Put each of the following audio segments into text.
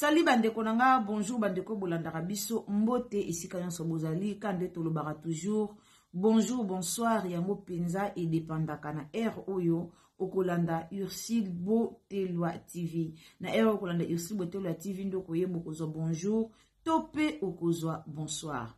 sali bandeko na nga bonjour bandeko bolandaka biso mbote esika nyonso bozali ka nde tolobaka toujours bonjour bonsoir yango mpenza edepandaka na heure oyo okolanda ursile botelwa tv na ere okolanda ursile botelwa tv nde okoyeba okozwa bonjour to mpe okozwa bonsoir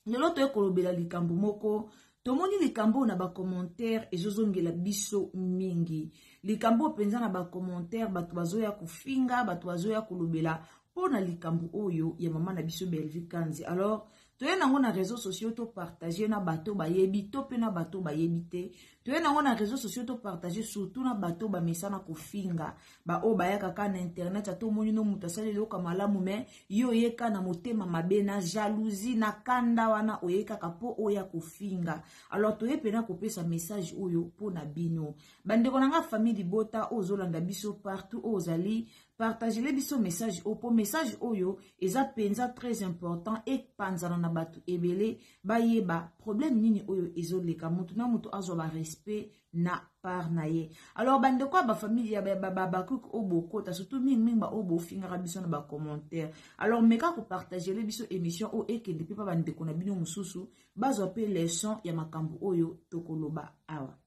lelo toye kolobela likambo moko tomoni likambo oyo na bacommentaire ezozongela biso mingi likambo oyo mpenza na bacommentaire bato bazoya kofinga bato bazoya kolobela mpo na likambo oyo ya mama na biso belvi kanzi alors toye nango na réseau sociaux to partager na bato bayebi to mpe na bato bayebi te toye nango na réseau sociaux to partager surtout na bato bamesana kofinga baoyo bayaka ka na internet ata omoni no moto asali eloka malamu me ye oyeka na motema mabe na jalousie na kanda wana oyekaka mpo oya kofinga alors toye mpena kopesa message oyo mpo na bino bandeko na ngai famille libota oyo ozolanda biso partout oyo ozali partagele biso message oyo mpo message oyo eza mpenza très important epanzana na bato ebele bayeba problème nini oyo ezoleka motu na motu azwa barespect na part na ye alors bandeko ya bafamili ya babakuk oyo bokota surtout mingimingi baoyo bofingaka biso na bacommentaire alors meka kopartagele biso émission oyo ekende mpe mpa bandeko na bino mosusu bazwa mpe leson ya makambo oyo tokoloba awa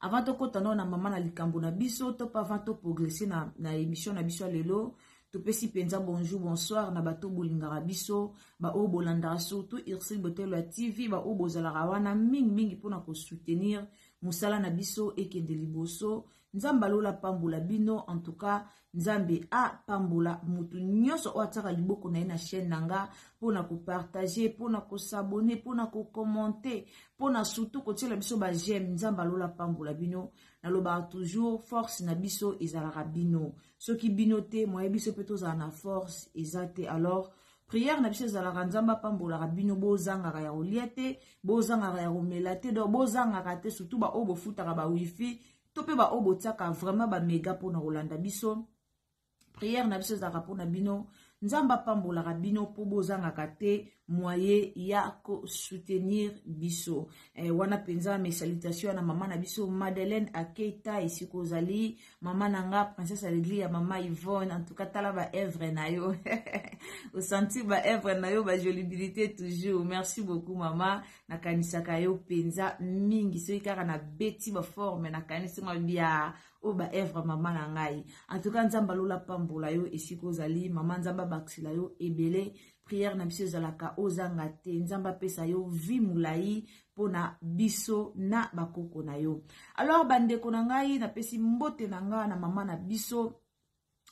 avant tokɔta nao na mama na likambo na biso to mpe avant toprogresse na, na émission na biso ya lelo topesi mpenza bonjour bonsoir na bato bolingaka biso baoyo bolandaka surtout ursile botelo ya tv baoyo bozalaka wana mingimingi mpo na kosoutenir mosala na biso ekende liboso nzambe alola apambola bino en tout cas nzambe apambola motu nyonso oyo atiaka liboko na ye na chaîne na nga mpo na kopartage mpo na kosabone mpo na kokommente mpo na surtout kotiela biso bajeme nzambe alola apambola bino nalobaka toujours force na biso ezalaka bino soki bino te moye biso mpe tozala na force eza te alors prière na biso ezalaka nzambe apambolaka bino bozangaka ya kolia te bozangaka ya komela te donc bozangaka te surtout baoyo bofutaka bawifi to mpe baoyo botiaka vraiment bamega mpona kolanda biso prière na biso ezalaka mpona bino nzambe apambolaka bino mpo bozangaka te moye ya kosoutenir biso eh, wana mpenza mes salutations na mama na biso madeleine akeita esika ozali mama na nga princesse aleglia mama yvonne en tout cas tala ba œuvre na yo osentir ba œuvre na yo ba jolibilité toujours merci beaucoup mama nakanisaka yo mpenza mingi soki kaka nabeti baforme nakanisi mwa bia oyo ba œuvre mama na ngai en tout cas nzambe alola pambola yo esika ozali mama nzambe abakisela yo ebele priere na biso ezalaka ozanga te nzambe apesa yo vie molai mpo na biso na bakoko na yo alors bandeko na ngai napesi mbote na ngai na mama na biso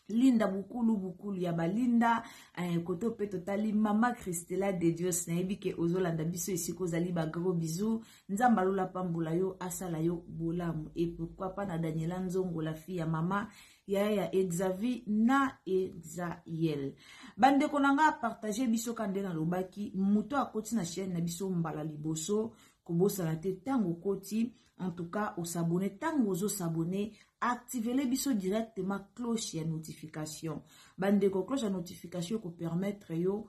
linda bukulu bukulu ya balinda eh, koto mpe totali mama christela de dios nayebi ke ozolanda biso esika ozali bagro bisou nzambe alola pambola yo asala yo bolamu e pourkui pa na daniela nzongo la fille ya mama yaya ya exavi na exael bandeko na ngai apartage biso ka nde nalobaki moto akoti na chaine na biso mbala liboso kobosana te ntango okoti en tout cas osabone ntango ozosabone activele biso directement cloche ya notification bandeko cloche ya notification ekopermettre yo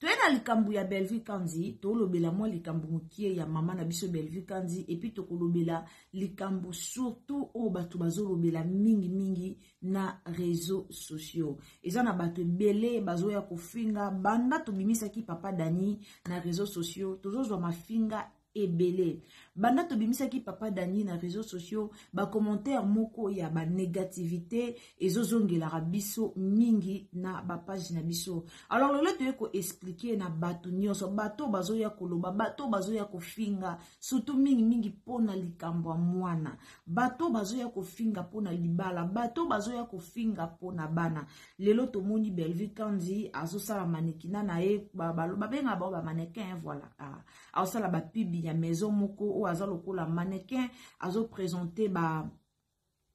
toye na likambo ya bellevue kanzi tolobela mwa likambo mokie ya mama na biso bellevue kanzi epuis tokolobela likambo surtout oyo bato bazolobela mingimingi na réseau sociaux eza na bato ebele bazoya kofinga banda tobimisaki papa dani na réseau sociaux tozozwa mafinga ebele banda tobimisaki papa dani na réseau sociaux bacommentaire moko ya banégativité ezozongelaka biso mingi na bapage na biso alors lelo toye koexplike na bato nyonso bato oyo bazoya koloba bato oyo bazoya kofinga surtout mingimingi mpo na likambo ya mwana bato oyo bazoya kofinga mpo na libala bato oyo bazoya kofinga mpo na bana lelo tomoni bellevue kandi azosala manekina na ye babengaka bango bamanekin voilà ah. aosala ba pub ya maison moko oyo aza lokola mannequin azo presente ba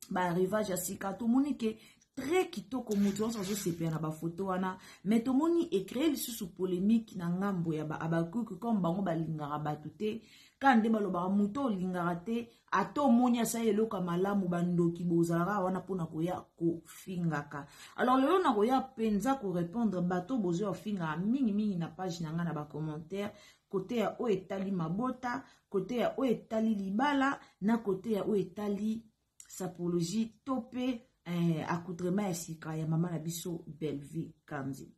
ba arrivage ya sika tomoni ke très kitoko moto nyonso azosepela na bafoto wana mais tomoni ecree lisusu polémique na ngambo ya baabakuki comme bango balingaka bato te kaka nde balobaka moto olingaka te ata omoni asali eloko ya malamu bandoki bozalaka wana mpona koya kofingaka alors lelo nakoya mpenza korepondre bato bozoya ofingaka mingimingi na page na ngai na bacommentaire kote ya oyo etali mabota kote ya oyo etali libala na kote ya oyo etali sapologie to mpe eh, accoutrement ya sika ya mama na biso bellevue kanzi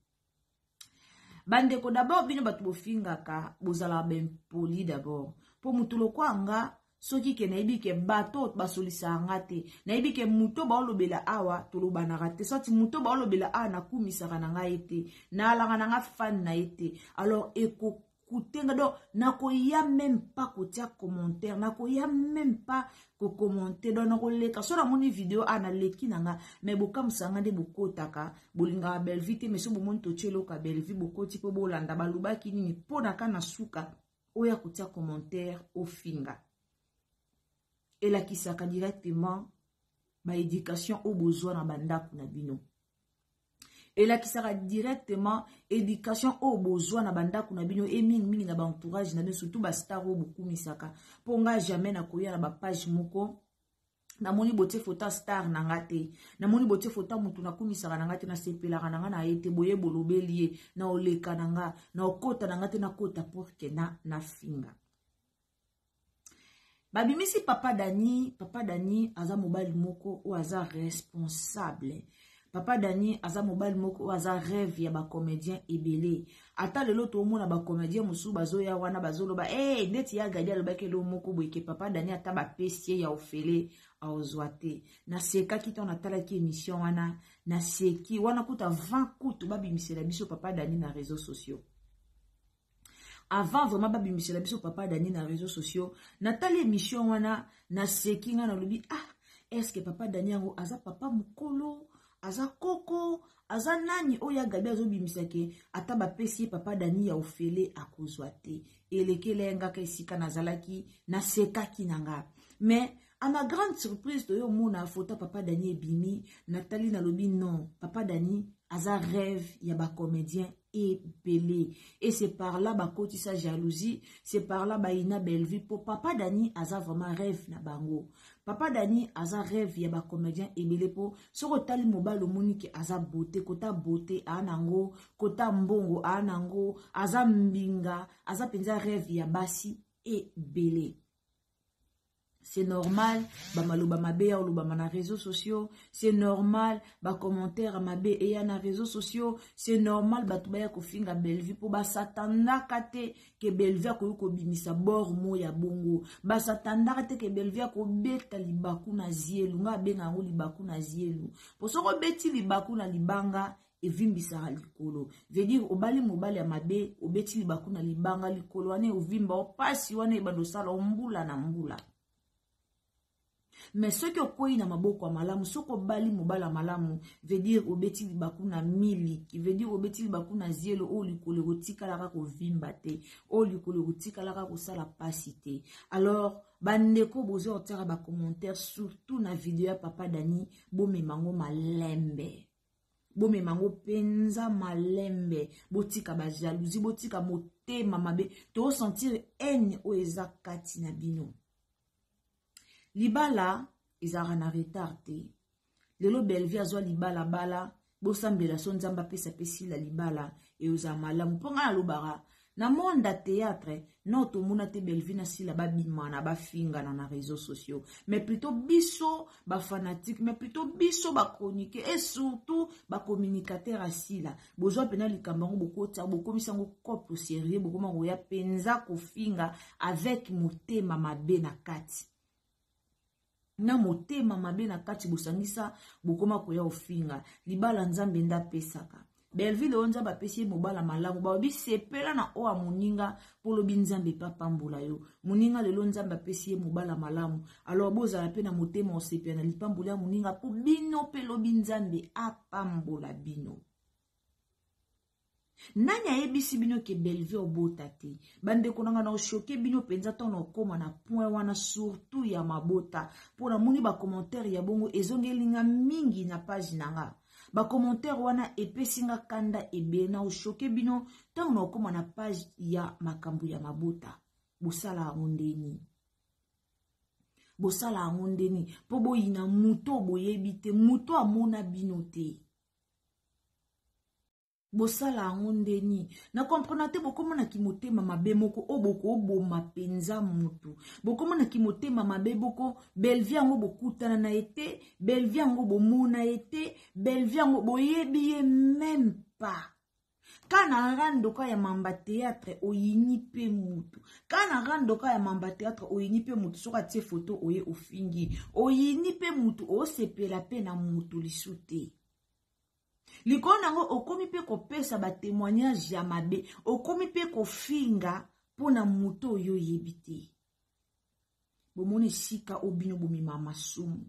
bandeko dabord bino bato bofingaka bozalaka baimpoli dabord mpo motu lokwa nga soki ke nayebi ke bato basolisaka nga te nayebi ke moto baolobela awa tolobanaka te soti moto baolobela awa nakumisaka na ngai te naalaka na nga fane na ye te alors ekoki kotenga donc nakoya meme pas kotia commentaire nakoya meme pas kokommente donc nakoleka so namoni video a ah, naleki na nga mai bokamwisa nga nde bokotaka bolingaka bellevue te mai so bomoni totie eloko ya bellevue bokoti mpo bolanda balobaki nini mpo na ka na suka oya kotia commentaire ofinga elakisaka directement baéducation oyo bozwa na bandako na bino elakisaka directement éducation oyo bozwa na bandako na bino e mingimingi na baentourage na bino surtout bastar oyo bokumisaka mpo ngai jamais nakoya na bapage moko namoni botie foto ya star na nga te namoni botie foto ya motu nakumisaka na nga te nasepelaka na nga na ye te boye bolobeli ye na oleka na nga na okota na nga te nakota porke na nafinga babimisi papa dani papa dani aza mobali moko oyo aza responsable papa dani aza mobali moko oyo aza rêve ya bacomédien ebele ata lelo toomona bacomédien mosusu bazoya wana bazoloba e hey, ndeti ya gadi alobaki eloo moko boyeke papa dani ata bapesi ye ya ofele aozwa te nasekaki ntango natalaki émission wana naseki wana kuta 20 kutu babimisela biso papa dani na réseau sociaux avant vraiment babimisela biso papa dani na réseau sociaux natali émission wana naseki ngai nalobi ah est ce que papa dani yango aza papa mokolo aza koko aza nani oyo ya gabi azobimisa ke ata bapesi ye papa dani ya ofele akozwa te elekela ye ngaka esika nazalaki nasekaki na nga mais a ma grande surprise toyo omona foto papa dani ebimi natali nalobi non papa dani aza rêve ya bacomédien ebele et c'est par là bakotisa jalousie c'est par là bayina bellevue mpo papa dani aza vraiment rêve na bango papa dani aza rêve ya bacomédien ebele mpo soki otali mobali omoni ke aza bote kota bote aa nango kota mbongo aa nango aza mbinga aza mpenza rêve ya basi ebele c'est normal bamaloba mabe ya olobama na réseaux sociaux c'est normal bacommentaire mabe eya na réseaux sociaux c'est normal bato baya kofinga bellevue mpo basatandaka te ke bellevue akoki kobimisa bor mo ya bongo basatandaka te ke bellevue akobeta libaku na zielu nga abenga yango libaku na zielu mpo soki obeti libaku na libanga evimbisaka likolo veut dire obali mobali ya mabe obeti libaku na libanga likolo wana eovimba opasi wana ebanda osala ombula na mbula me soki okwei na maboko ya malamu soki obali mobala malamu vedire obeti libaku na miliki vedire obeti libaku na zelo oyo likolo ekotikalaka kovimba te oyo likolo ekotikalaka kosala mpasi te alors bandeko boza kotiaka bacommentaire surtout na video ya papa dani bomemango malembe bomema yango mpenza malembe botika bajalousie botika motema mabe toosentire haine oyo eza kati na bino libala ezalaka na retard te lelo belvie azwa libalabala bosambela so nzambe apesa pe sila libala eozala malamu mpo ngai nalobaka Na monde ya theatre non tomona te Bellevue na Sila ba bimana ba fingana na reseaux sociaux mais plutot biso ba fanatique mais plutot biso ba chroniquer et surtout ba communicateur ya Sila bozwa pena likambo yango bokotsa bokomisa yango cope sérieux bokoma koya penza kofinga avec motema mabe na kati na motema mabe na kati bosangisa bokoma koya ofinga libala nzambe nde apesaka belvile oyo nzambe apesi ye mobala malamu balobi sepela na oyo ya moninga mpo lobi nzambe mpe apambola yo moninga lelo nzambe apesi ye mobala malamu alors bozala mpe na motema osepela na lipamboli ya moninga mpo bino mpe lobi nzambe apambola bino nani ayebisi bino ke bellevue obota te bandeko na nga na oshoke bino mpenza ntango na okoma na point wana surtout ya mabota mpo namoni bacommentaire ya bongo ezongeli nga mingi na page na nga bacommentaire wana epesi nga kanda ebele na oshoke bino ntango na okoma na page ya makambo ya mabota bosala yango ndeni bosala yango ndeni mpo boyina moto boyebi te moto amona bino te bosala yango nde nini na comprena te bokoma na kimotema mabe moko oyo bokoboma mpenza motu bokoma na kimotema mabe boko belvie yango bokutana na ye te belvie yango bomona ye te belvie yango boyebi ye meme pas ka na rando ka ya mamba théâtre oyini mpe motu ka na rando ka ya mamba théâtre oyini mpe motu soki atie foto oye ofingi oyini mpe motu osepela mpe na motu lisu te likolo na yango okomi mpe kopesa batémoignage ya mabe okomi mpe kofinga mpo na moto oyo oyebi te bomoni esika oyo bino bomema masumu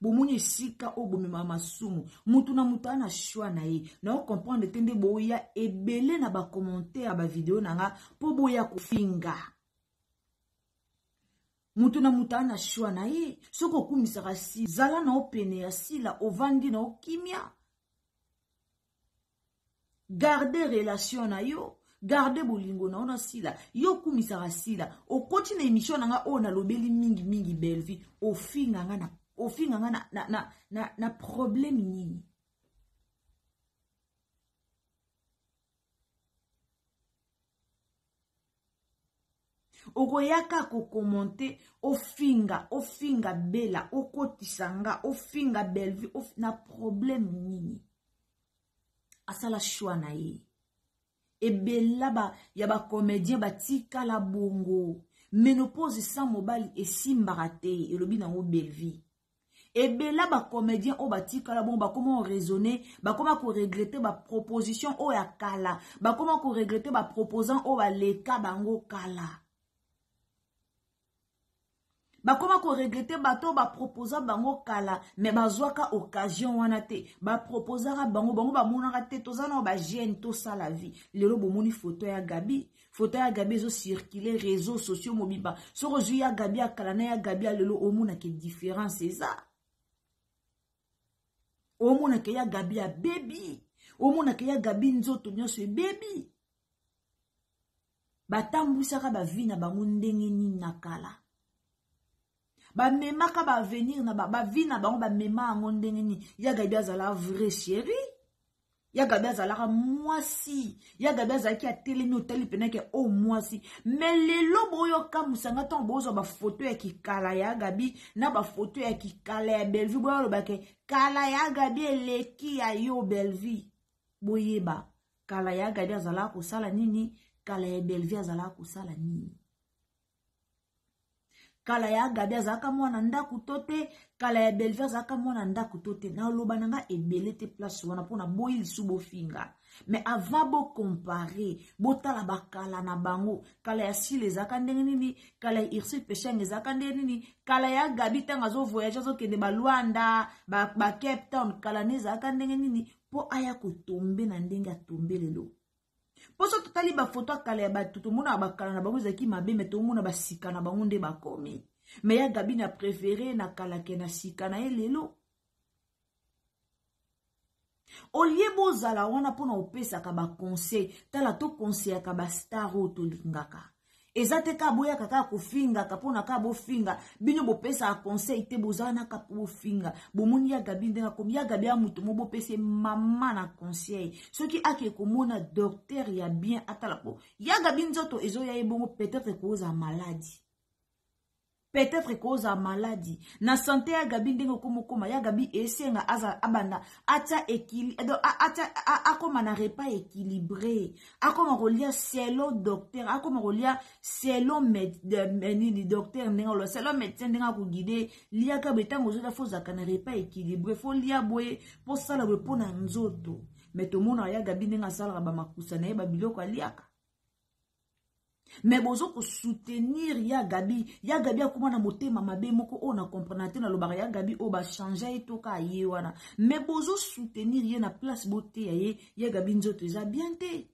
bomoni esika oyo bomemaka masumu motu na motu aa na shoi na ye nao comprendre te nde boya ebele na bacommentaire ya bavideo na nga mpo boya kofinga motu na motu aa na shoi na ye soki okumisaka si zala na opene ya sila ovandi na okimia garde relation na yo garde bolingo na yo na sila yo okumisaka sila okoti na émission na nga oyo nalobeli mingi mingi bellevie ofinga nga na ofinga nga na, na, na, na, na problème nini okoyaka kokomente ofinga ofinga bela okotisa nga ofinga bellevue of... na problème nini asala shwa na ye ebela ba, ya bacomédien batikala bongo menopause sans mobali esimbaka te elobi nango bellevue ebela bacomédien oyo batikala bongo bakoma oraisonne bakoma koregrete baproposition oyo ya kala bakoma koregrete baproposant oyo baleka bango kala bakoma koregrete bato oyo baproposa bango kala me bazwaka occasion wana te baproposaka bango bango bamonaka te toza nao bajeune tosala vie lelo bomoni foto ya gabi foto ya gabi ezo circule réseau sociaux mobimba soki ozwi ya gabi ya kala na ya gabi ya lelo omonake différence eza omonake ya gabi ya bebi omonake ya gabi nzoto nyonso ebebi batambwisaka bavi na bango ndenge nini na kala bamemaka baavenir na bavi na bango bamema yango ndenge nini ya gabi azala vrai chérie ya gabi azalaka mwasi ya gabi azalaki atelemi otali mpena ke o oh, mwasi me lelo boyokamwisa nga ntango bozwa bafoto ya kikala ya gabi na bafoto ya kikala ya bellevue boyaloba ke kala ya gabi eleki ya yo bellevue boyeba kala ya gabi azalaka kosala nini kala ya bellevue azalaka kosala nini kala ya gabi azalaka mwana ndako to te kala ya belvi azalaka mwana ndako to te naloba na nga ebele te place wana mpo naboyi lisu bofinga mais avant bocompare botala bakala na bango kala ya sile ezalaka ndenge nini kala ya ursule peshang ezalaka ndenge nini kala ya gabi ntango azovoyage azokende balwanda bacape ba town kala ne ezalaka ndenge nini mpo aya kotombe na ndenge atombe lelo mpo so totali bafoto ya kala ya bato tomonaka bakala na bango ezalaki mabe me tomona basika na bango nde bakomi me ya gabi na prefere na kala ke na sika na ye lelo olie bozala wana mpo na opesaka baconseil tala tokonseyaka bastar oyo tolingaka eza te kaka boyaka kaka kofingaka mpona kaka bofinga bino bopesaka conseil te bozala na kaka bofinga bomoni ya gabi ndenge akomi ya gabi ya moto mo bopesi mama na conseil soki ake komona docteur ya bien atala po ya gabi nzoto ezoya ye bongo peut-être ekozala maladi peut-être que ozala maladi na sante ya gabi ndenge okoma okoma ya gabi esenga azala abanda atia ekili eh, atia akoma na repas équilibré akoma kolia selon docteur akoma kolia selon nini docteur ndenge oloba selon médecin ndenge akogide liaka boye ntango ozolia fo ozalaka na repas équilibré fo lia boye mpo sala boye mpo na nzoto me tomonaka ya gabi ndenge asalaka bamakusa na ye babiloko aliaka mais bozo ko soutenir ya gabi ya gabi akoma na motema mabe moko oyo na comprendre te nalobaka ya gabi oyo bachangea ye toka aye wana mais bozo soutenir ye na place boteya ye ya gabi nzoto eza bien te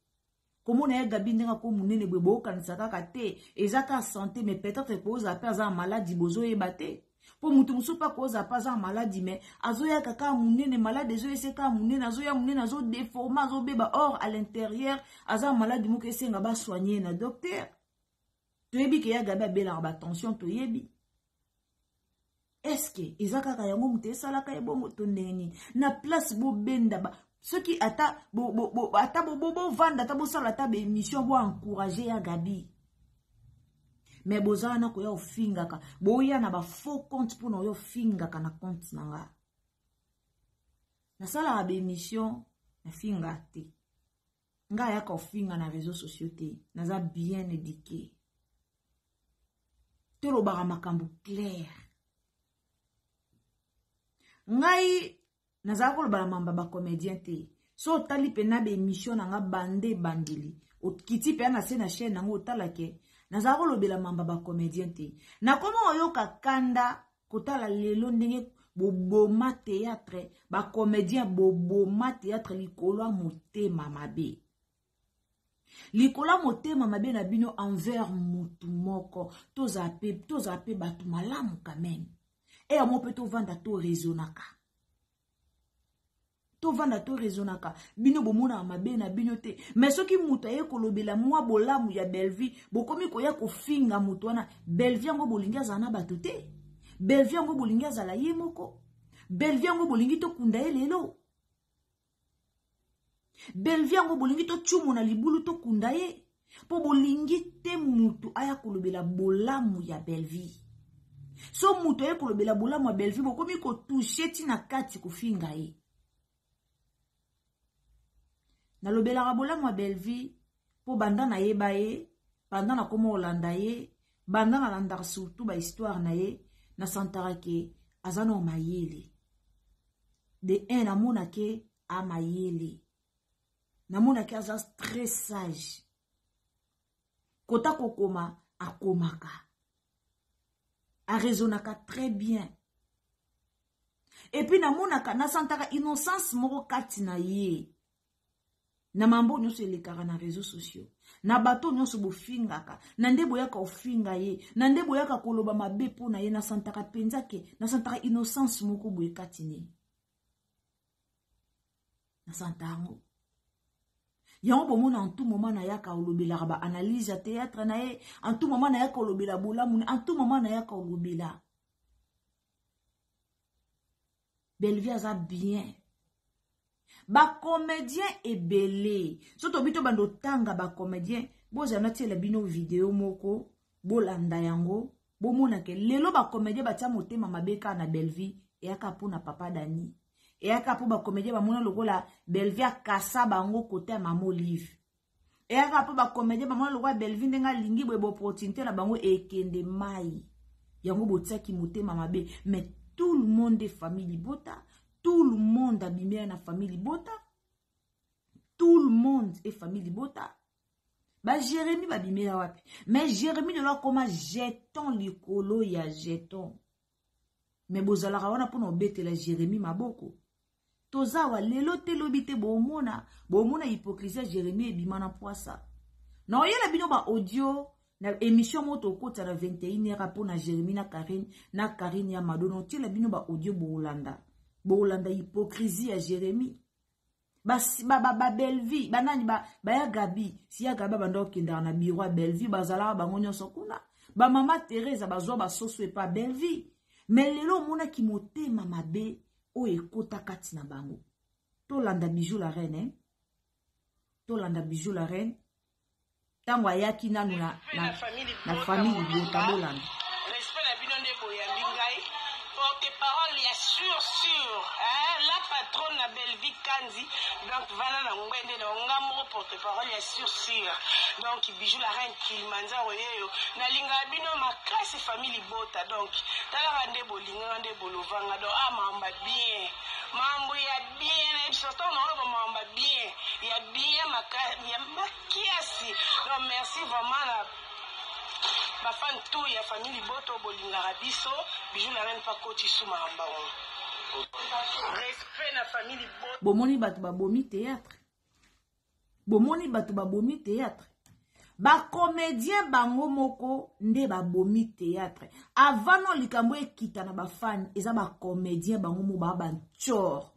komona ya gabi ndenge ako monene boye boyokanisa kaka te eza kaka sante mais peut-être ekozala mpe aza na maladi bozoyeba te mpo moto mosusu mpe akozala mpe aza na maladi me azoyaka kaka monene maladi ezoyese kaka monene azoya monene azodeforme azobeba or à l'intérieur aza na maladi moko esenga basoigne na docteur toyebi ke ya gabi abelaka batension toyebi eske eza kaka yango moto esalaka ye bongo to ndenge nini na place bobenda ba soki ata bovanda bo, bo, bo, ata bosala ata baémission boencourage ya gabi me boza wana koya ofingaka boya na bafaux compte mpona oya ofingaka na compte na nga nasalaka baémission nafinga te nga ayaka ofinga na réseau sociaux te naza bien édiqué tolobaka makambo claire ngai nazala koloba na mamba ba comedien te so otali mpe na baemission na nga bande ebandeli okiti mpe na se na chaine yango otala ke nazala kolobela mamba ba comedien te nakoma oyoka kanda kotala lelo ndenge boboma théâtre ba comedien boboma théâtre likolo ya motema mabe likolo ya motema mabe na bino envers motu moko tozala mpe tozala mpe bato malamu kameme eya mo mpe tovanda toraisonaka tovanda toraisonaka bino bomonaka mabe na bino te mai soki moto aye kolobela mwa bolamu ya bellevie bokomi koya kofinga moto wana bellevie yango bolingi azala na bato te bellevie yango bolingi azala ye moko bellevie yango bolingi tokunda ye lelo belvi yango bolingi tocumo na libulu tokunda ye mpo bolingi te motu aya kolobela bolamu ya belvi so motu aye kolobela bolamu ya belvi bokomi kotushe ntina kati kofinga ye nalobelaka bolamu ya belvi mpo banda nayeba ye banda nakoma olanda ye banda nalandaka surtout bahistware na ye nasantaka ke aza nao mayele de un namona ke amayele namona ke aza très sage kota kokoma akomaka arezonaka très bien epuis namonaka nasantaka innocence moko kati na ye na mambo nyonso elekaka na réseau sociaux na bato nyonso bofingaka na nde boyaka ofinga ye na nde boyaka koloba mabe mpo na ye nasantaka mpenza ke nasantaka innocence moko boye kati ne nasanta yango yango bomona en tout moment nayaka olobelaka baanalyse ya théâtre na ye en tout moment nayaka olobela bolamu en tout moment nayaka olobela belvie aza bien bacomédien ebele so tobi tobanda otanga bacomédien bozala natiela bino video moko bolanda yango bomona ke lelo bacomédien batia motema mabe kaka na belvie eyaka mpo na papa dani eyaka mpo bacomédien bamona lokola belvie akasa bango kote ya mama olive eyaka mpo bacomédien bamona lokola belvi ndenge alingi boye boopportunité na bango ekende mai yango botiaki motema mabe mais tout le monde est famille libota tout le monde abimela na famille libota tout le monde est famille libota bajeremi babimela wapi mais jeremi lelo akoma jeton likolo ya jeton me bozalaka wana mpona obetela jérémie maboko toza awa lelo te lobi te bomona bomona hypocrisie ya jérémie ebima na mpwasa na oyela bino baaudio na émission moko tokotisa na 21 heure mpo na jérémie na karine na karine ya mado na otiela bino baaudio boolanda boolanda hypocrisie ya jérémie ba ba ba, ba Bellevue ba nani ba ba ya Gabi si ya Gabi banda okendaka na bureau ya Bellevue bazalaka bango nyonso kuna ba mama Teresa bazwa ba soso epa Bellevue mais lelo omonaki motema mabe oyo ekota kati na bango tolanda bijou la reine eh? tolanda bijou la reine ntango ayaki nanu na, na, na famille libota bolanda respect na bino nde boyambi ngai porte parole ya sur sur eh, la patronne na belvi kanzi donc vana na ngbende na nga moko porte parole ya sur sur donc bijou la reine kilimanza oyeyo nalingaka bino makasi famille libota donc talaka nde bolinganga nde bolovanga donc amamba ah, bien Mambo ya bien na episode to na oloba mambo ya bien ya bien maka ya makiasi donc merci vraiment na ba fan tout ya famille liboto bolingaka biso bijou la reine pa koti suma na mbango respect na famille liboto bomoni bato babomi théâtre bomoni bato babomi théâtre bacomédien bango moko nde babomi théâtre avant no likambo ekita na bafani eza bacomédien bango moko baa bancore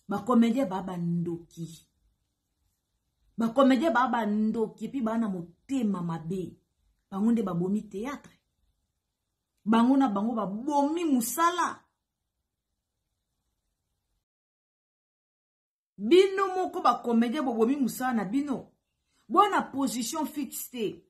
bacomédien baa bandoki bacomédien baa bandoki epuis baa na motema mabe bango nde babomi théâtre bango na bango babomi mosala bino moko ba comedien bobomi mosala na bino boa na position fixe te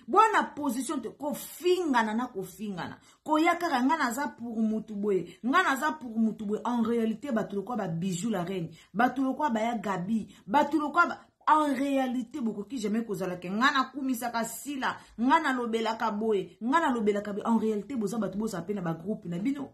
boa na position te kofingana na kofingana koya kaka ngai naza pour mutu boye ngai naza pour mutu boye en réalité bato lokwa ba bijou la reine bato lokwa baya gabi bato lokwa ba... en réalité bokoki jamais kozala ke ngai nakumisaka sila ngai nalobelaka boye ngai nalobelaka boye en réalité boza bato bozala mpe na bagroupe na bino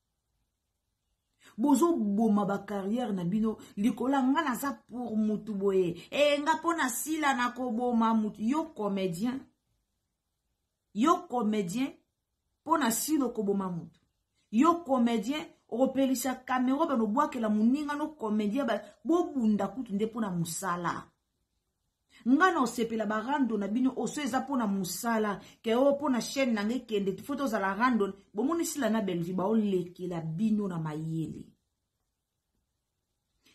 bozoboma bacarrière na bino likolo ya nga naza pour mutu boye e nga mpo na sila nakoboma mutu yo comédien yo comédien mpo na sila okoboma mutu yo comédien okopelisa camero banobwakela moninga no comédien bobunda kutu nde mpo na mosala nga na osepela ba rando na bino oso eza mpo na mosala ke o mpo na chaîne na nga ekende fo tozala randon bomoni sila na bellevue baolekela bino na mayele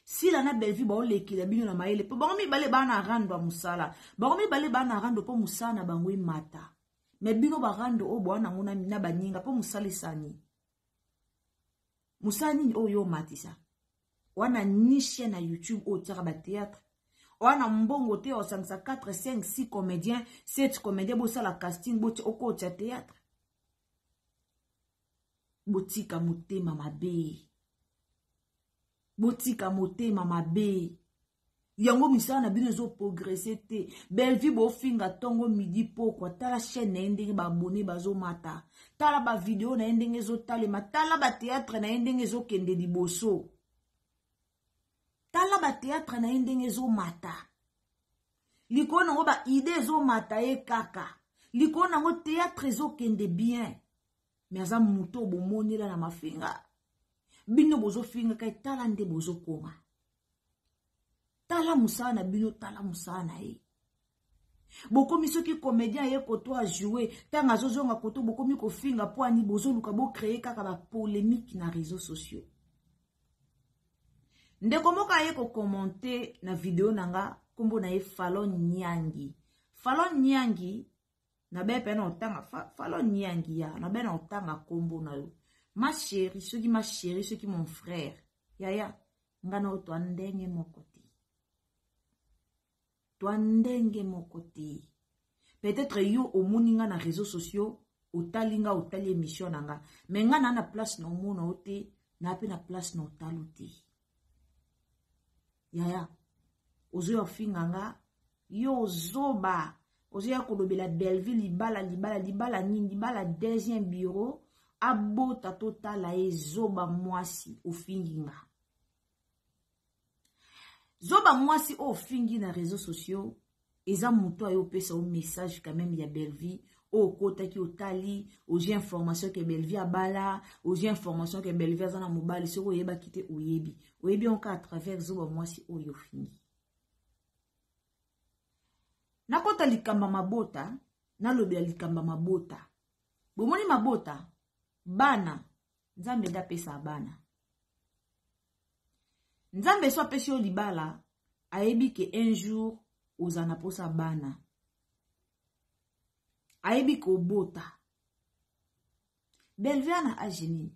sila na bellevue baolekela bino na mayele mpo bango mibale baa na rando ya mosala bango mibale baa na rando mpo mosala na bango emata me bino barando oyo boa nango na baninga mpo mosala esani mosala nini oyo yo omatisa wana nishe na youtube oyo otiaka batheatre wana mbongo te osangisa 4 5 6 comédien 7 comédien bosala casting boti okotia theatre botika motema mabe botika motema mabe yango misala na bino ezoprogrese te bellevue bofinga ntongo midi pokwa tala chaîne na ye ndenge baabone bazomata tala bavideo na ye ndenge ezotalema tala bateatre na ye ndenge ezokende liboso tala bateatre na ye ndenge ezomata likolo nango baide ezomata ye kaka likolo nango teatre ezokende bien me aza moto obomonela na mafinga bino bozofingaka etala nde bozokoma tala mosala na bino tala mosala na ye bokomi soki comédien aye koto ajoue ntango azozonga koto bokomi kofinga mpo ani bozoluka bocreye kaka bapolémique na réseau sociaux ndeko moko aye kokommente na video na nga nkombo na ye falon nyangi falon nyangi nabe mpe na otanga falo niangi ya nabe na otanga nkombo na yo ma sheri soki ma sheri soki mon frère yaya nga na yo twa ndenge moko te twa ndenge moko te peut-être yo omoni nga na réseaux sociaux otali nga otali émission na nga me nga naa na place na omona yo te naa mpe na place na otalo te yaya ozoya kofinga nga yo zoba ozoya kolobela bellevue libala libala libala nini libala deuxième bureau abota totala ye zoba mwasi ofingi nga zoba mwasi oyo ofingi na réseau sociaux eza moto ayo opesa yo message quand même ya bellevie oyo okotaki otali ozwi information ke bellevie abala ozwi information ke bellevie aza na mobali soki oyebaki te oyebi oyebi yango kaka travers zoba mwasi oyo ofingi nakota likambo ya mabota nalobela likambo ya mabota bomoni mabota bana nzambe nde apesa bana nzambe so apesi yo libala ayebi ke un jour oza na mposa bana ayebi kobota belvia na age nini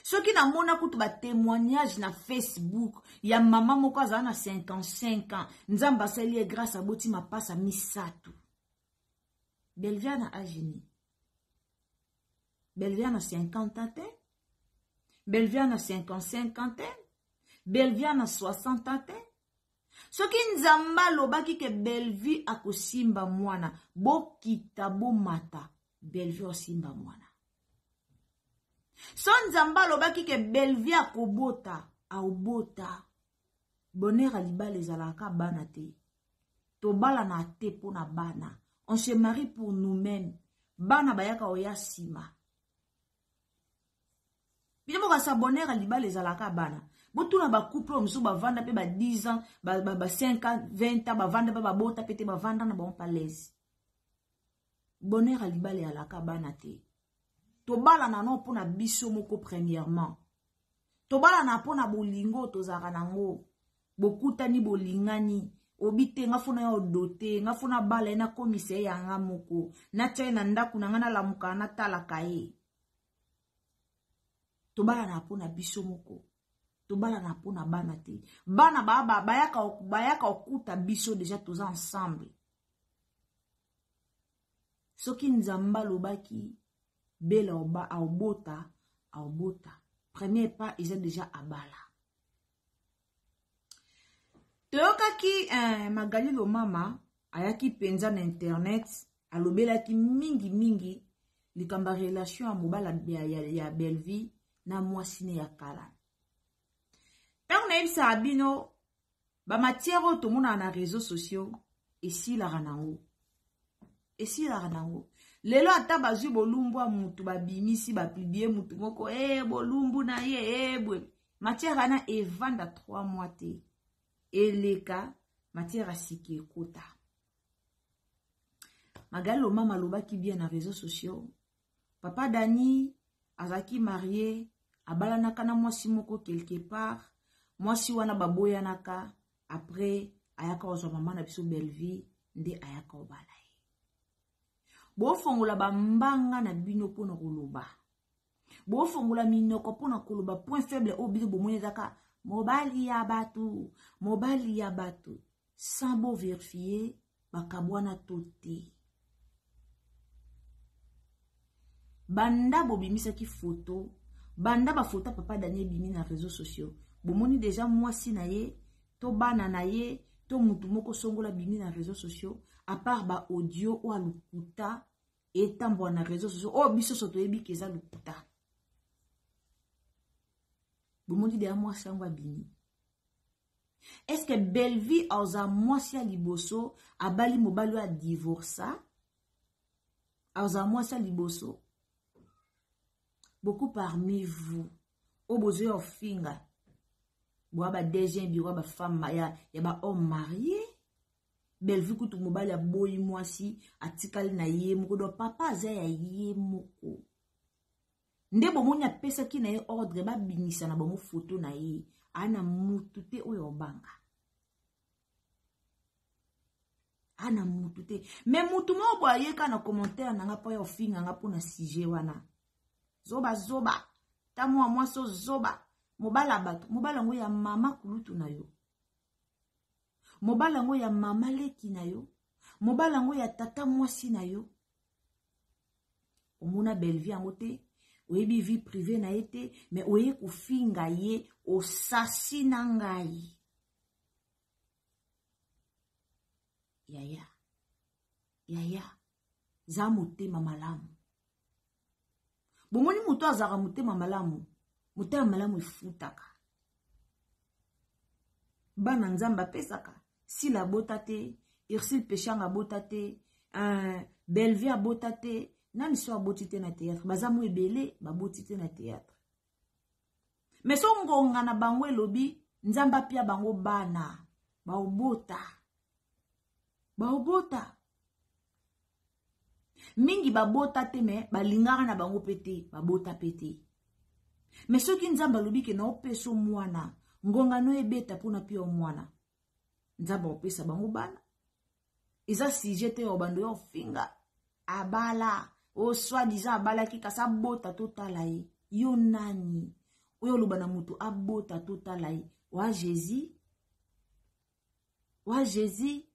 soki namona kutu batémoignage na facebook ya mama moko azala na 55 ans nzambe asali ye grâce aboti mapasa misato belvia na age nini belvia na 50 ans te belvia na 55 ans te belvia na 60 ans te soki nzambe alobaki ke bellevue akosimba mwana bokita bomata bellevue asimba mwana so nzambe alobaki ke bellevue akobota aobota bonheur ya libala ezalaka kaka bana te tobalana te mpo na bana on se marie pour nous-mêmes bana bayaka oya nsima bino mokasa bonheur ya libala ezalaka bana botuna bacouple oyo mosusu bavanda mpe ba 10 ans ba 5 ans 20 ans bavanda mpe babota mpe te bavanda na bango palese bonheur ya libala eyalaka bana te tobalana no mpo na biso moko premièrement tobalana mpo na bolingo tozalaka nango bokutani bolingani obi te nga fona ya odote nga fona bala ye nakomisa ye yanga moko natya ye na ndako na nga nalamuka natalaka ye tobalana mpo na biso moko tobalana mpo na bana te bana bayaka kokuta biso deja toza ensemble soki nzambe alobaki bela oba aobota aobota premier pas eza deja abala toyokaki eh, magali lomama ayaki mpenza na internet alobelaki mingi mingi likambo ya relation ya mobala ya, ya, ya bellevie na mwasi ne ya kala ntango nayebisaka bino ba matière oyo tomonaka na réseaux sociaux esilaka nango esilaka nango lelo ata bazwi bolumbwa mutu babimisi bapublie mutu moko e eh, bolumbu na ye e eh, bwe matière wana evanda 3 mois te eleka matière asiki ekota magali lomama alobaki bien na réseaux sociaux papa dani azalaki marie abalanaka na mwasi moko quelque part mwasi wana baboyanaka après ayaka kozwa mama na biso bellevie nde ayaka obala ye bofongola bambanga na bino mpo na koloba bofongola minoko mpo na koloba point faible oyo bino bomoni ezaka mobali ya bato mobali ya bato sans bo verifie bakabwana to te banda bobimisaki foto banda bafoto ya papa dani ebimi na réseau sociaux bomoni deja mwasi na ye to bana na ye to motu moko songola bimi na réseau sociaux apart baaudio oyo alukuta etambwa na réseau sociaux oyo biso so toyebi ke eza lukuta bomoni deja mwasi yango abimi eske bellevue aoza mwasi ya liboso abali mobali oyo adivorsa aoza mwasi ya liboso beaucoup parmi vous oyo bozoya ofinga boya ba deuxième biro ya bafemme ya, ya bahomme marie bellevue kutu mobali aboyi mwasi atikali na ye moko donc papa aza ya ye moko nde bomoni apesaki na ye ordre babimisa na bango foto na ye ana mutu te oyo obanga ana mutu te me mutu moko boye ayeka na commentaire na nga mpo ya ofinga nga mpo na sujet wana zoba zoba ta mwa mwasi ozoba mobala bato mobala yango ya mama kulutu na yo mobala yango ya mama leki na yo mobala yango ya tata mwasi na yo omona bellevie yango te oyebi vie privée na ye te me oye kofinga ye osasi na ngai yaya yaya za motema malamu bomoni moto azalaka motema malamu motema malamu efutaka bana nzambe apesaka sila abota te ursule peshanga abota te uh, belvie abota te nani so aboti te na théâtre baza mo ebele baboti te na théâtre me so ngonga na bango elobi nzambe apia bango bana baobota baobota mingi babota te me balingaka na bango mpe te babota mpe te me soki nzambe alobi ke naopeso mwana ngongano ebeta mpo na pio mwana nzambe akopesa bango bana eza sujet te ya obando ya ofinga abala o soi disant abalaki kasi abota totala ye yo nani oyo oloba na moto abota totala ye wa jésus wa jésus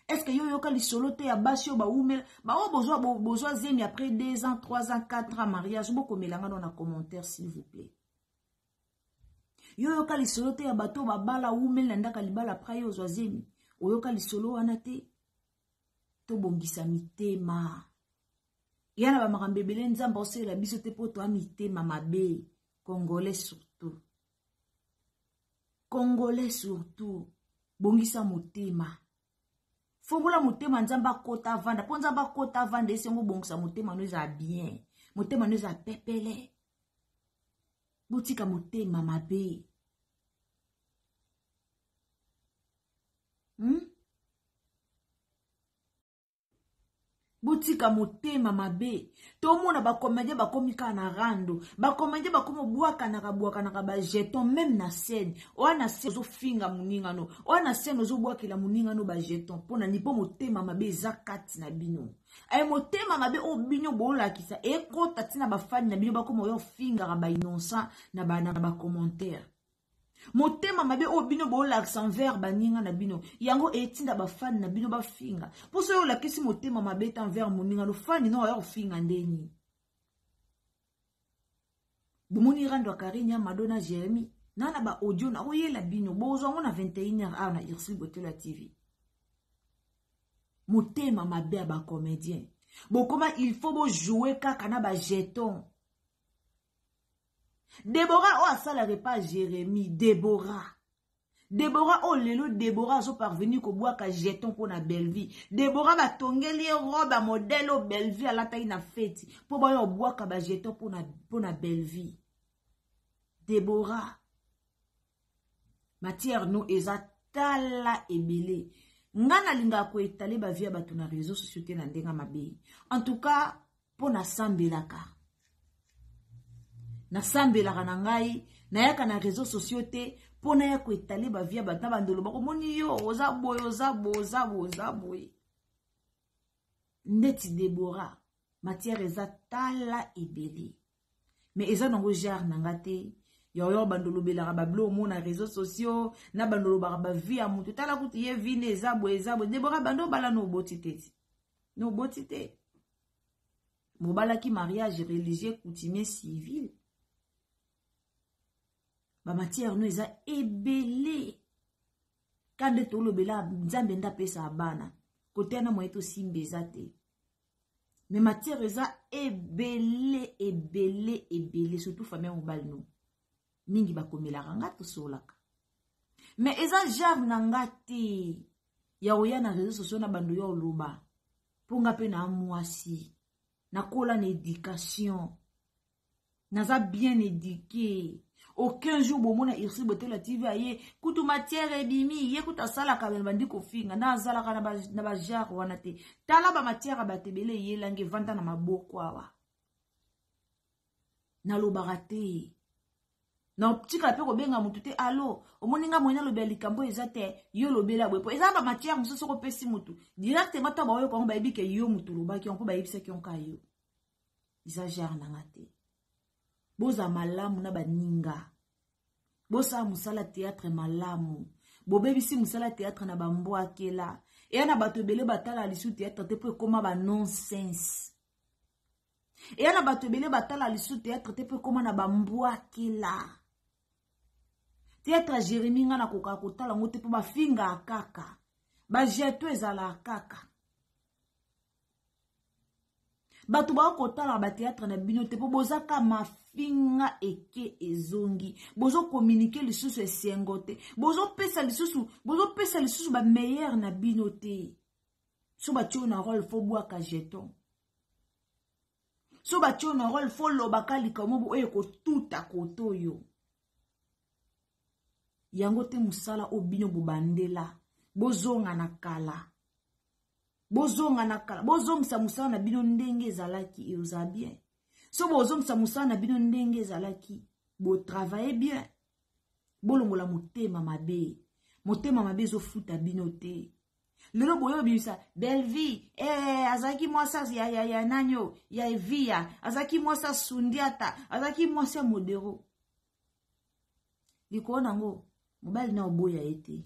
estce yo oyoka lisolo te ya basi oyo bawumela baoyo bozwa bozwa zemi après 2 ans 3 ans 4 ans mariage bokomela ngano na commentaire s'il vous plaît yo oyoka lisolo te ya bato oyo babala wumeli na ndaka libala après yo ozwa zemi oyoka lisolo wana te tobongisa mitema ya na bamakambo ebele nzambe aosalela biso te mpo toya mitema mabe congolais surtout congolais surtout bongisa motema fongola motema nzambe akota avanda mpo nzambe akota avanda esi yango obongisa motema no eza bien motema no eza pepele botika motema mabe hmm? botika motema mabe tomona bakomedien bakomi kaka na rando bakomedien bakomi obwakanaka bwakanaka bajeton meme na scène oya na scène ozofinga moningano oya na scène ozobwakela moningano bajeton mpo na nini mpo motema mabe eza kati na bino aye motema mabe oyo bino bolakisa ekota ntina bafani na bino bakoma oyo ofingaka bainnoncent na bacommentaire ba motema mabe oyo bino bolakisa envers baninga na bino yango etinda bafani na bino bafinga mpo soki olakisi motema mabe te envers moninga no fani no oya kofinga nde nini bomoni rando ya karine ya mado na jeremi na na baaudio nakoyela bino bozwa yango na 21 heure awa na ursule botelo ya tv motema mabe ya bacomédien bokoma il faut bojoue kaka na bajeton debora oyo asalaka epa jeremi debora debora oyo oh, lelo debora azoparvenir kobwaka jeton mpo na bellevie debora batongeli ye robe ya modele oyo bellevie alataki na feti mpo baya obwaka bajeton mpo na bellevie debora matière no eza tala ebele nga nalingaka koetale bavie ya bato na réseau sociaux te na ndenge mabe en tout cas mpo nasambelaka nasambelaka na ngai nayaka na réseau sociaux te mpo naya koetale bavie ya bato na bandolo bakomoni yo oza boye oza boye oza boye oza boye ndeti debora matière eza tala ebele mais eza nango genre na nga te yaoyo bando olobelaka bablo omona réseau sociaux na bando olobaka bavie ya motu tala kutu ye vi nde eza boye eza boye debora bando obala na oboti te ti na oboti te bobalaki mariage religieux coutumier civil bamatière no eza ebele ka nde tolobela nzambe nde apesa bana kote na moye tosimba eza te mais matière eza ebele ebele ebele surtout famille ya mobali no mingi bakomelaka nga tosolaka mais eza genre na nga te ya koya na réseau sociaux na bando ya oloba mpo nga mpe na mwasi nakola na éducation naza bien éduqué aucun jour bomona ursi botola tv aye kutu matière ebimi ye kutu asalaka me bandi kofinga na azalaka na bajare wana te tala bamatière ya bato ebele eyelangi evanda na maboko awa nalobaka te natikala mpe kobenga motu te alo omoni nga moyena lobela likambo eza te yo lobela boye mpo eza bamatière mosusu soko opesi motu directement ntango baoyoka yango bayebi ke yo motu olobaki yango mpo bayebisaki yango ka yo eza genre na nga te boza malamu na baninga bosala mosala théâtre malamu bobebisi mosala théâtre na bambwakela eya na bato ebele batala lisu théâtre te mpo ekoma ba nonsense eya na bato ebele batala lisu théâtre te mpo ekoma na bambwakela théâtre ya jérémi ngai nakoka kotala yango te mpo bafingaka kaka bajeto ezalaka kaka bato baoki kotalaka bateatre na bino te mpo boza ka mafinga eke ezongi bozokominike lisusu esengo te bozopesa lisusu bozopesa lisusu bameilleur na bino te so batio na role fo bwaka jeton so batio na role fo lobaka likambo bo oyo ekotuta kote oyo yango te mosala oyo bino bobandela bozonga na kala bozonga na kala bozongisa mosala na bino ndenge ezalaki eoza bien so bozongisa mosala na bino ndenge ezalaki botravaille bien bolongola motema mabe motema mabe ezofuta bino te lelo boye obimisa belvie ee eh, azalaki mwasi ya, ya, ya nani oyo ya eviya azalaki mwasi ya sundiata azalaki mwasi ya modero likolo na yango mobali na oboya ye te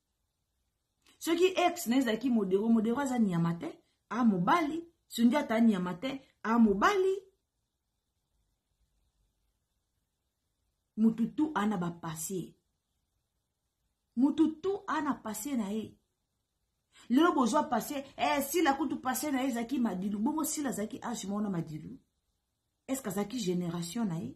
soki ex na ezalaki modero modero aza nyama te a mobali sundi ata nyama te a mobali mutu tu ana bapasie mutu tu ana pasie na ye lelo bozwa pasie eh, sila kutu pasie na ye ezalaki madilu bongo sila azalaki age mona madilu eske azalaki generation na ye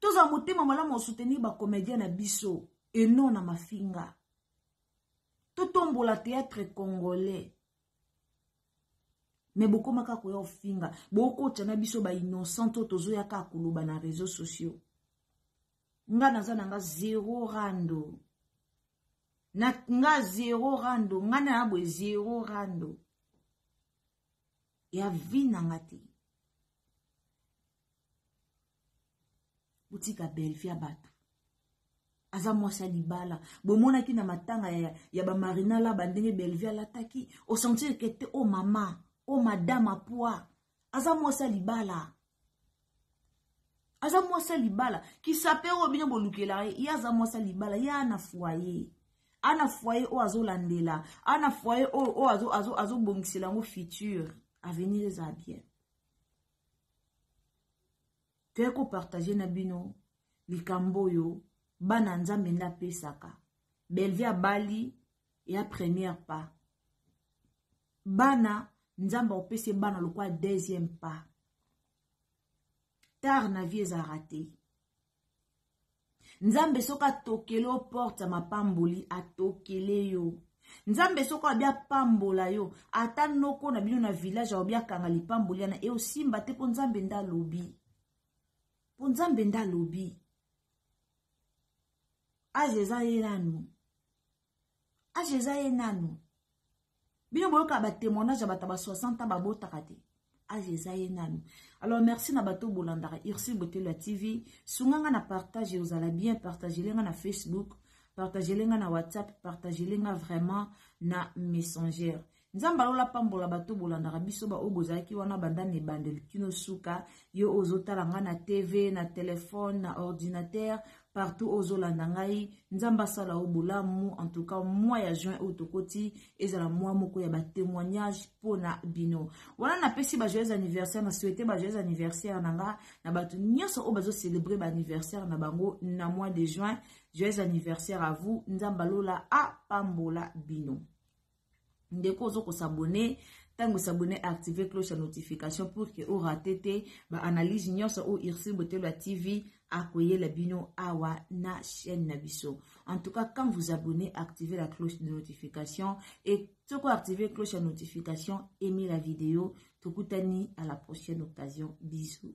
tozala motema malamu ya soutenir bacomédien na biso e non na mafinga totombola théâtre congolais me bokoma kaka koya ofinga bokotya na biso bainnocent oyo tozoya kaka koloba na réseau sociaux nga naza na nga zero rando na nga zero rando nga na ya boye zero rando ya vi na nga te botika belvi ya bato aza mwasi ya libala bomonaki na matanga ya, ya bamarina laba ndenge belvi alataki osentir ke te o oh mama o oh madame apoi aza mwasi ya libala aza mwasi ya libala kisape oyo bino bolukelaka ye ye aza mwasi ya libala ye ana foye ana foye oyo azolandela ana foye oyo oyo azobongisela yango future avenir eza bien toye kopartage na bino likambo oyo bana nzambe nde apesaka belvi abali ya première pas bana nzambe akopesa bana lokola deuxième pas tard na vie ezalaka te nzambe soki atokele yo porte ya mapamboli atokele yo nzambe soki abi apambola yo ata noko na bino na village aobi akanga lipamboli yana eosimba te mpo nzambe nde alobi mpo nzambe nde alobi aze eza ye nanu age eza ye nanu bino boyoka batémoignage ya bato ba 60 babotaka te age eza ye nanu alors merci na bato bolandaka ursil botelo ya tv sunga nga na partage ozala bien partagele nga na facebook partagele nga na whatsapp partagele nga vraiment na messenger nzambe alola pambola bato bolandaka biso baoyo bozalaki wana banda na ebandeli kino suka yo oyo ozotala ngai na tv na telefone na ordinatere partout oyo ozolanda ngai nzambe asala yo bolamu en tout cas mwa ya juin oyo tokoti ezala mwa moko ya batémoignage mpo na bino wana napesi bajoyeux anniversaire na souhaite bajoyeux anniversaire na nga na bato nyonso oyo bazocelebre baanniversaire na bango na mois de juin joyeux anniversaire à vous nzambe alola apambola bino ndeko ozo ko s'abonner ntango s'abonner activer cloche ya notification pour que orate te ba analyse nyonso oyo ursule botelo ya tv akoyela bino awa na chaîne na biso en tout cas quand vous abonnez activez la cloche de notification et soki activer cloche ya notification aimez la vidéo tokutani à la prochaine occasion bisous